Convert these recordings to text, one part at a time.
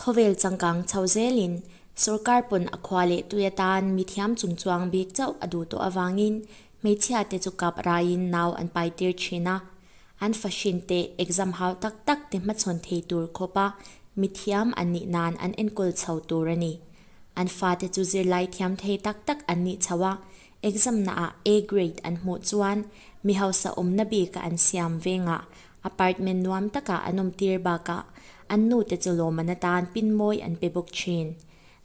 Khawvel changkang chho zelin sorkar pawn a khua leh tui atan mithiam chung chuang bik chauh a duh tawh avangin hmeichhia te chu kap raiin nau an pai tir thin a. An fahrin te exam hau tak tak te hmachhawn thei tur khawpa mithiam an nih nan an enkawl chho tur a ni. An fa te chu zirlai thiam thei tak tak an nih chho a, exam naah A grade an hmuh chuan mi hausa awmna bika an siam vengah Apartment nuam takah an awm tir bakah an nu te chu lawmman atan pinmawi an pe bawk thin.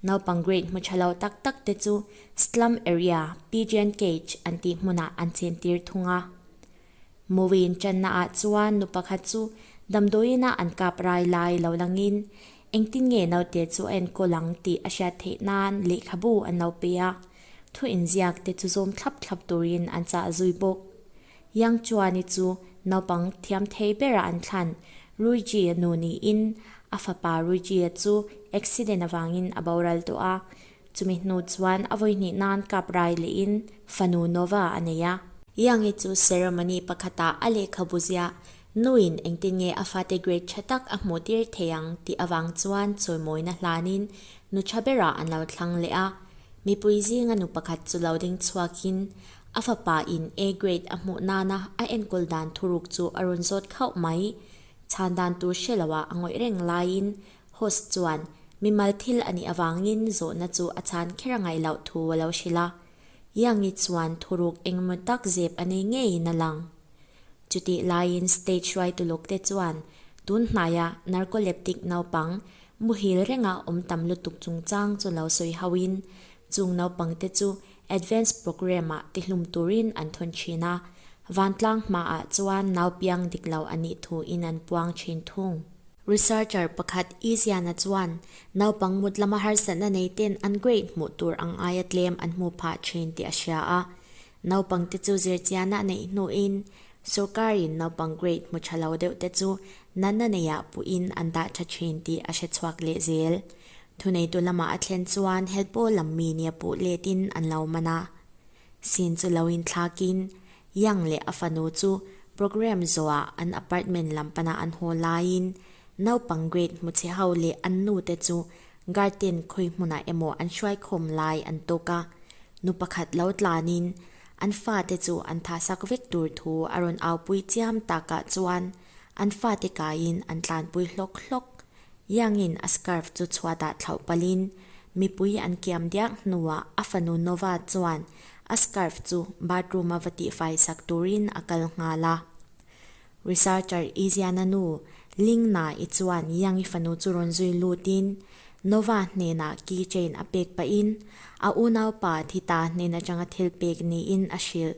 Naupang grade hmu tha lo tak tak te chu Slum Area, Pigeon Cage an tih hmunah an chhen tir thung a. Movie inchanna ah chuan nu pakhat chu damdawiin a an kap rai lai lo langin engtin nge naute chu a enkawl ang tih a hriat theih nan lehkhabu an lo pe a, thu inziak te chu zawm thlap thlap turin an chah zui bawk. Yang Chuani chu naupang thiam thei berah an thlan. Rui Jie nu niin a fapa Rui Jie chu accident avangin a boral tawh a. Chumi hnu chuan a vawi hnih nan kap rai lehin fanu Nova a nei a. Yang i chu ceremony pakhatah a lehkhabu zia nuin engtin nge a fate grade tha tak a hmuh tir thei ang tih avang chuan chawimawina hlanin nu tha berah an lo thlang leh a. Mipui zinga nu pakhat chu lo ding chhuakin A fapa in A grade a hmuh nana a enkawl dan thuruk chu a rawn zawt khauh mai. Chhan dan tur hre lo ah a ngawih reng laiin Host chuan mimal thil a nih avangin zawhna chu a chhan kher a ngaih loh thu a lo hrilh a. Yangi chuan thuruk engemaw tak zep a nei ngeiin a lang. Chutih laiin stage ruai tuluk te chuan tun hnai a Narcoleptic naupang muhil reng a awm tam lutuk chungchang chu lo sawi hauhin chung naupang te chu Advance Programme-ah tihlum turin an thun thin a, vantlang hmaah chuan naupiang dik lo a nih thu in an puang thin thung. Researcher pakhat Iziana chuan naupang mutlama harsatna nei ten an grade hmuh tur ang aia tlem an hmu phah thin tih a hria a, naupangte chu zirchiana neih hnuin sorkarin naupang grade hmu tha lo deuhte chu nanna neih ah puhin an dah tha thin tih a hre chhuak leh zel. Thuneitu lama a thlen chuan Helpo lam mi nia puh letin an lo man a. Sin chu lo inthlakin Yang leh a fanu chu programme zawhah an apartment lam pana an haw laiin naupang grade hmu chhe ho leh an nu te chu garden khawi hmunah emaw an hruai khawm lai an tawk a. Nu pakhat lo tlanin an fate chu an tha sak vek tur thu a rawn aupui chiam takah chuan an fate kaiin an tlanpui hlawk hlawk. Yangin a scarf chu chhuatah thlauh palhin mipui an kiam diak hnuah a fanu Nova chuan a scarf chu bathroom-a va tihfaisak turin a kal nghal a. Researcher Iziana nu Lingna i chuan Yangi fanu chu rawn zui lutin Nova hnenah key chain a pek pahin a unaupa Thita hnen atanga thil pek niin a hrilh.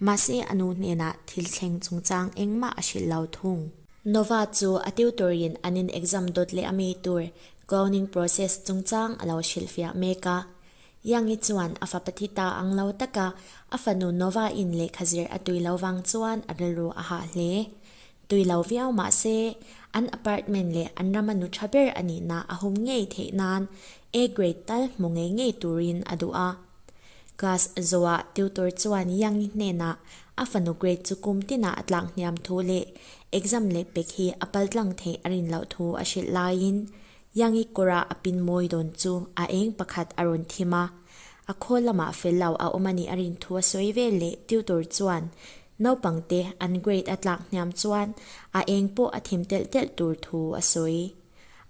Mahse a nu hnenah thil thleng chungchang engmah a hrilh lo thung. Nova chu a tutor in an in exam dawt leh a mi tur cloning process chungchang a lo hrilh fiah mek a. Yangi chuan a fa pathi ta ang lo taka a fanu Nova in lehkha zir a tui lo vang chuan a rilru a hah hle. Tui lo viau mah se, an apartment leh an rama nu tha ber a nihna a hum ngei theih nan A grade tal hmu ngei ngei turin a duh a. Class zawhah tutor chuan Yangi hnenah a fanu grade chu kum tinah a tlak hniam thu leh exam leh pek hi a pal tlang theih a rin loh thu a hrilh laiin Yangi kawra a pinmawi dawn chu a eng pakhat a rawn thim a. A khawl lamah fel lo a awm a nih a rin thu a sawi vel leh tutor chuan Naupangte an grade a tlak hniam chuan a eng pawh a thim telh telh tur thu a sawi.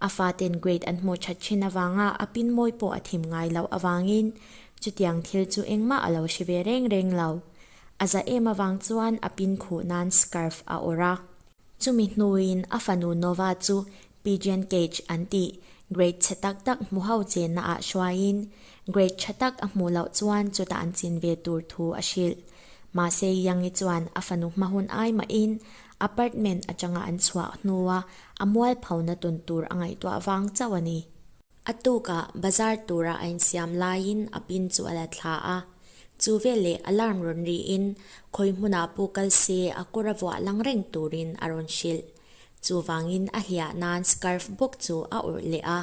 A faten grade an hmuh that thin avanga a pinmawi pawh a thim ngai loh avangin chutiang thil chu engmah a lo hre ve reng reng lo. A za em avang chuan a pin khuh nan scarf a awrh a. Chumi hnuin a fanu Nova chu Pigeon cage an ti. Grade chhe tak tak hmu ho chenna ah hruaiin grade tha tak a hmuh loh chuan chuta an chin ve tur thu a hrilh. Mahse Yangi chuan a fanu hma hun ai mahin apartment atanga an chhuah hnua a mual pho na tun tur a ngaihtuah vang chauh a ni. A tuka bazar tura a insiam laiin a pin chu a la thla a. Chu veleh alarm rawn riin khawi hmuna pu kal se a kura vuah lang reng turin a rawn hrilh. Chuvangin a hliah nan scarf bawk chu a awrh leh a.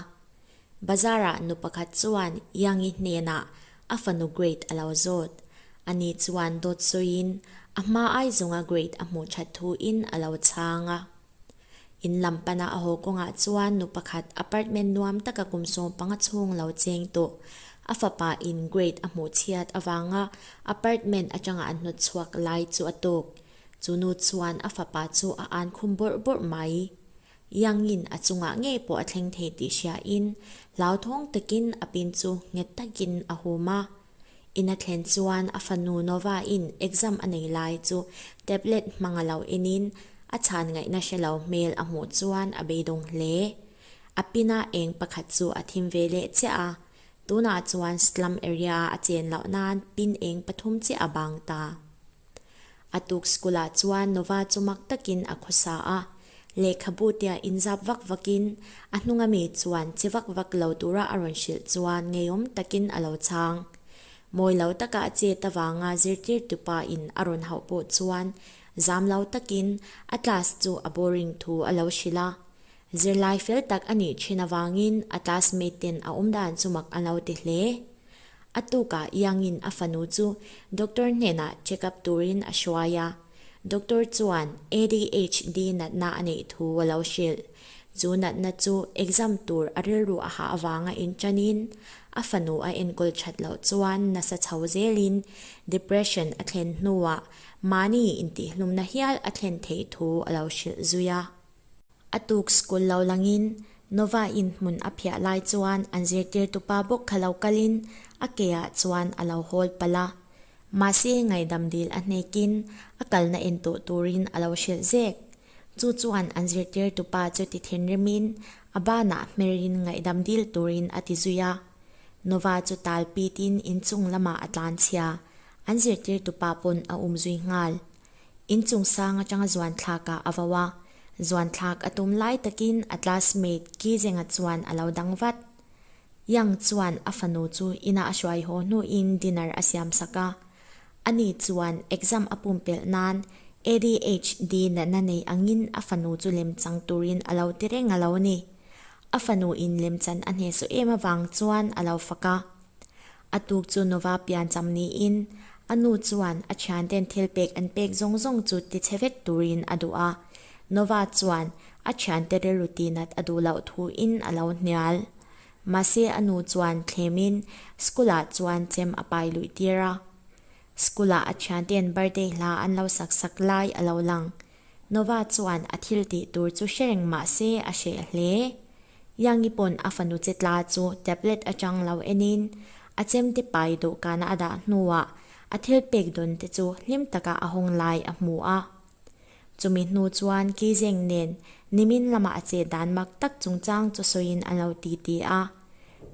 Bazarah nu pakhat chuan Yangi hnenah a fanu grade a lo zawt. Ani chuan dawt sawiin a hma aizunga grade a hmuh that thuin a lo chhang a. In lam pana a haw kawngah chuan nu pakhat apartment nuam taka kum sawm panga chhung lo cheng tawh. A fapa in grade a hmuh chhiat avanga apartment atanga a hnawt chhuak lai chu a tawk. Chu nu chuan a fapa chu a ân khum bawrh bawrh mai. Yangin a chungah ngei pawh a thleng thei tih hriain hlauthawng takin a pin chu nghet takin a hum a. In a thlen chuan a fanu Novain exam a nei lai chu tablet hmang a lo enin a chhan ngaih na hre lo hmel a hmuh chuan a beidawng hle. A pina eng pakhat chu a thim ve leh chiah a, tunah chuan slum area-a a chen loh nan pin eng pathum chiah a bang ta. A tuk school ah chuan Nova chu mak takin a khaw sa a, lehkhabu te ah inzap vak vak in a hnung a mi chuan che vak vak lo tura a rawn hrilh chuan ngeiawm takin a lo chang. Mawi lo taka a chet avanga zirtirtu pa in a rawn hauh pawh chuan zam lo takin a class chu a boring thu a lo hrilh a, Zirlai fel tak a nih thin avangin a classmate ten a awm dan chu mak an lo ti hle. A tuka Iangin a fanu chu doctor hnenah checkup turin a hruai a, doctor chuan ADHD natna a neih thu a lo hrilh. Chu natna chu exam tur a rilru a hah avanga in tanin a fanu a enkawl that loh chuan nasa chho zelin depression a thlen hnuah mahni intihhlumna hial a thlen theih thu a lo hrilh zui a. A tuk school lo langin Nova in hmun a phiah lai chuan an zirtirtu pa bawk kha lo kalin a ke ah chuan a lo hawl palh a. Mahse ngaidam dil a hnekin a kalna en tawh turin a lo hrilh zek. Chu chuan an zirtirtu pa chu ti thinrimin a banah hmerin ngaihdam dil turin a ti zui a. Nova chu tal pitin in chung lamah a tlan chhia, an zirtirtu pa pawn a um zui nghal. Inchungsang atanga zuanthlak ah a vau a, zuanthlak a tum lai takin a classmate Kizenga chuan a lo dang vat. Yang chuan a fanu chu inah a hruai haw hnuin dinner a siam sak a. Ani chuan exam a pumpelh nan ADHD natna nei angin a fanu chu lem chang turin a lo ti reng a lo ni. A fanu in lemchan a hneh suh em avang chuan a lo fak a. A tuk chu nuva pian cham niin a nu chuan a thianten thil pek an pek zawng zawng chu ti chhe vek turin a duh a. Nuva chuan a thiante rilru tinat a duh loh thuin a lo hnial. Mahse a nu chuan thlemin school ah chuan chem a pai luih tir a. School ah a thiante'n birthday hla an lo sak sak lai a lo lang. Nova chuan a thil tih tur chu hre reng mah se a hreh hle. Yangi pawn a fanu che tla chu tablet atang lo enin a chem te pai dawhkana a dah hnuah a thil pek dawn te chu hlim taka a hawng lai a hmu a. Chumi hnu chuan Kizeng nen nimin lama a che dan mak tak chungchang chu sawiin an lo ti ti a.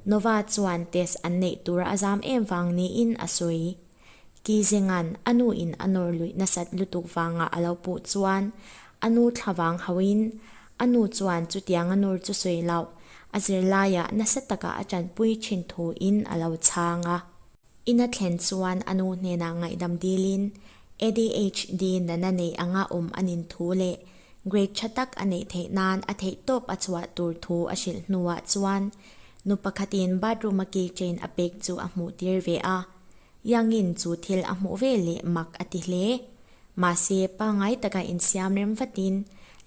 Nova chuan test an neih tura a zam em vang niin a sawi. Kizenga'n a nu in a nawr luih nasat lutuk vangah a lo puh chuan a nu thla vang hauh in a nu chuan chutiang a nur chu sawi loh a zir laiah nasa takah a tanpui thin thu in a lo chhang a. In a thlen chuan a nu hnenah ngaihdam dil in ADHD nana neih anga awm a nin thu leh grade tha tak a neih theih nan a theih tawp a chhuah tur thu a hrilh hnuah chuan nu pakhat in bathroom a key chain a pek chu a hmuh tir ve a. Yangin chu thil a hmuh vel leh mak a ti hle. Mahse, pangngai taka insiam rem vatin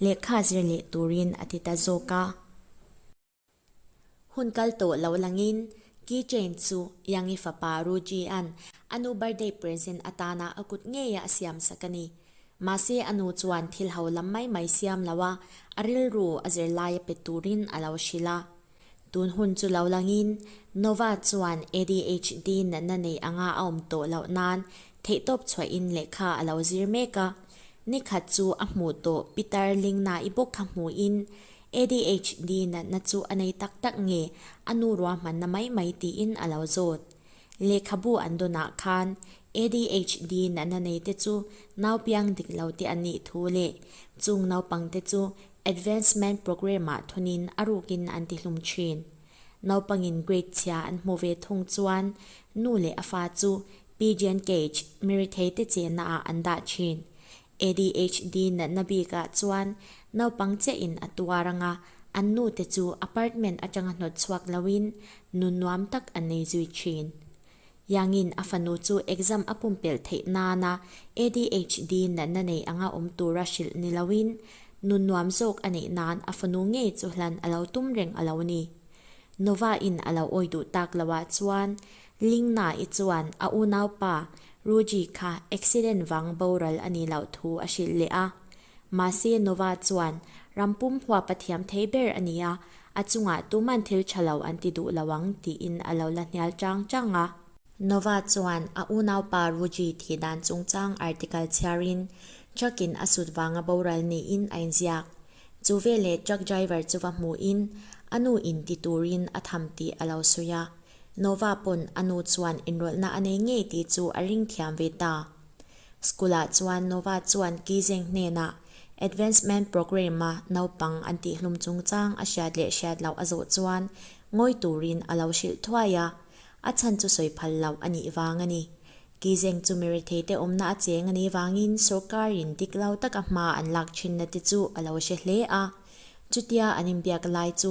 lehkha zir leh turin a ti ta zawk a. Hun kal tawh lo langin key chain chu Yangi fapa Rujian a nu birthday present atana a kut ngeia a siam sak a ni. Mahse, a nu chuan thil haulam mai mai siam loh a, a rilru a zir laia pe turin a lo hrilh a. Tun hun chu lo langin, Nova chuan ADHD natna nei anga a awm tawh loh nan theihtawp chhuahin lehkha a lo zir mek a. Nikhat chu a hmuh tawh Peter Lingna i bawk kha hmuhin, ADHD natna chu a nei tak tak nge, a nu ruahmanna mai mai tiin a lo zawt. Lehkhabu an dawnah khan ADHD natna neite chu naupiang dik lo te an nih thu leh chung naupangte chu Advancement Programme-ah thunin a rukin an tihlum thin. Naupangin grade chhia an hmu ve thung chuan nu leh a fa chu Pigeon Cage, miri thei te chehna, ah an dah thin. ADHD natna bikah chuan naupang che in a tuar ang a, an nu te chu apartment atanga hnawt chhuak loin nu nuam tak an nei zui thin. Yangin a fanu chu exam a pumpelh theih nana ADHD natna nei anga awm tura hrilh ni loin nun nuam zawk a neih nan a fanu ngei chu hlan a lo tum reng a lo ni. Nova in a lo awi duh tak lo ah chuan Lingna i chuan a unaupa Ruji kha accident vang boral a ni loh thu a hrilh leh a. Mahse Nova chuan rampum hua pathiam thei ber a ni a, a chungah tuman thil tha lo an ti duh lo ang tiin a lo la hnial chang chang a. Nova chuan a unaupa Ruji thih dan chungchang article chhiarin truckin a sut vanga boral niin a inziak. Chu veleh truck driver chu va hmuhin a nu in ti turin a tham tih a lo sawi a. Nova pawn a nu chuan enrawlhna a nei ngei tih chu a ring thiam ve ta. School-ah chuan Nova chuan Kizeng hnena Advancement Programme-a naupang an tihhlum chungchang a hriat leh hriat loh a zawh chuan ngawi turin a lo hrilh thuai a, a chhan chu sawi phal loh a nih vang a ni. Kizeng chu mi retheite awmna a cheng a nih vangin sorkarin dik lau taka hma an lak thinna te chu a lo hre hle a. Chutia an inbiak lai chu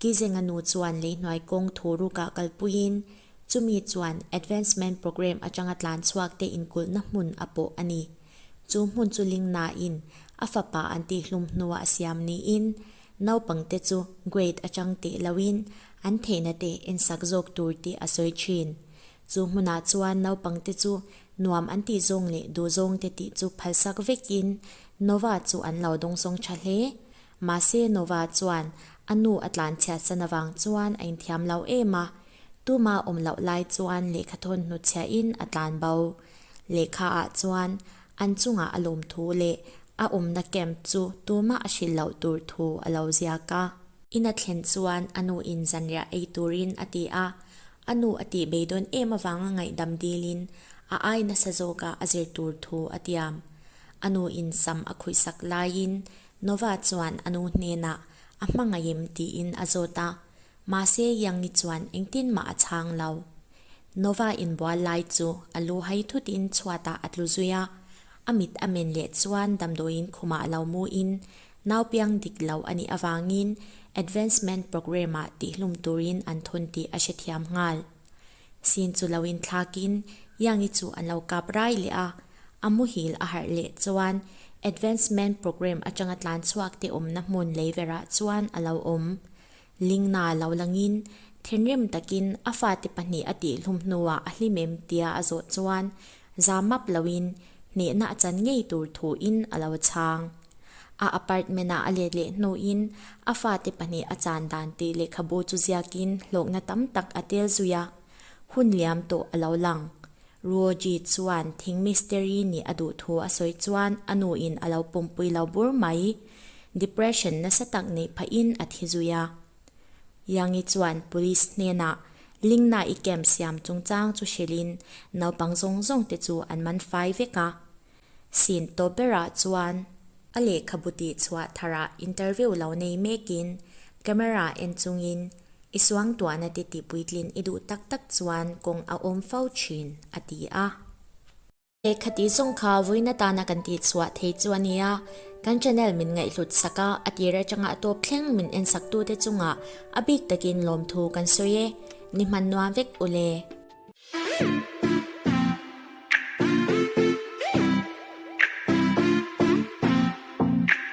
Kizenga nu chuan leihnuai kawng thu rukah kal puiin chumi chuan Advancement Programme atanga tlanchhuak te inkulhna hmun a pawh a ni. Chu hmun chu ling nain a fapa an tihhlum hnua a siam niin naupang te chu grade atang teh loin an theihna te ensak zawk tur tih a sawi thin. Chu hmunah chuan naupang te chu nuam an tih zawng leh duhzawng te tih chu phalsak vekin Nova chu an lo dawngsawng tha hle. Mahse Nova chuan a nu a tlan chhiah san avang chuan a inthiam lo em a, tuma awm loh lai chuan lehkha thawntnu chhiah in a tlan bo. Lehkha ah chuan an chungah a lawm thu leh a awmna camp chu tumah a hrilh loh tur thu a lo ziak a. In a thlen chuan a nu in zanriah ei turin a ti a, a nu a tih bei dawn em avang a ngaihdam dil in a ai nasa zawk a a zir tur thu a tiam. A nu in sam a khuihsak lai in Nova chuan a nu hnenah a hmangaih em tiin a zawt a, mahse Yangi chuan engtin mah a chhang lo. Nova inbual lai chu a lu hai thutin chhuatah a tlu zui a, a mit a men leh chuan damdawiin khumah lo muin nau piang dik lo a nih avangin advancement programme-ah tihhlum turin an thun tih a hrethiam nghal. Sin chu lo inthlak in Yangi chu an lo kap rai leh a, a muhil a harh leh chuan Advancement Programme atanga tlanchhuakte awmna hmun leiverah chuan a lo awm. Lingna lo lang in thinrim takin a fate pahnih a tih hlum hnuah a hlim em tia a zawh chuan Za map loin hnehna a chan ngei tur thuin a lo chhang. A apartment-ah a let leh hnuin a fate pahnih a chan dan tih lehkhabu chu ziakin hlawkna tam tak a tel zui a, hun liam tawh a lo lang. Ruoji chuan thing mystery nih a duh thu a sawi chuan a nuin a lo pumpui lo bur mai. Depression nasa tak neih phahin a thi zui a. Yangi chuan police hnenah Lingna i camp siam chungchang chu hrilhin naupang zawng zawng te chu an man fai vek a. Scene tawp berah chuan a lehkhabu tih chhuah tharah interview lo nei mekin camera en chungin I suangtuahna te tih puitlin i duh tak tak chuan kawng a awm fo thin a ti a. He khati zawng kha vawiina tana kan tih chhuah thei chu a ni a, kan channel min ngaihhlut sak a, a tir atanga a tawp thleng min en sak tute chunga a bik takin lawmthu kan sawi e, ni hman nuam vek ule.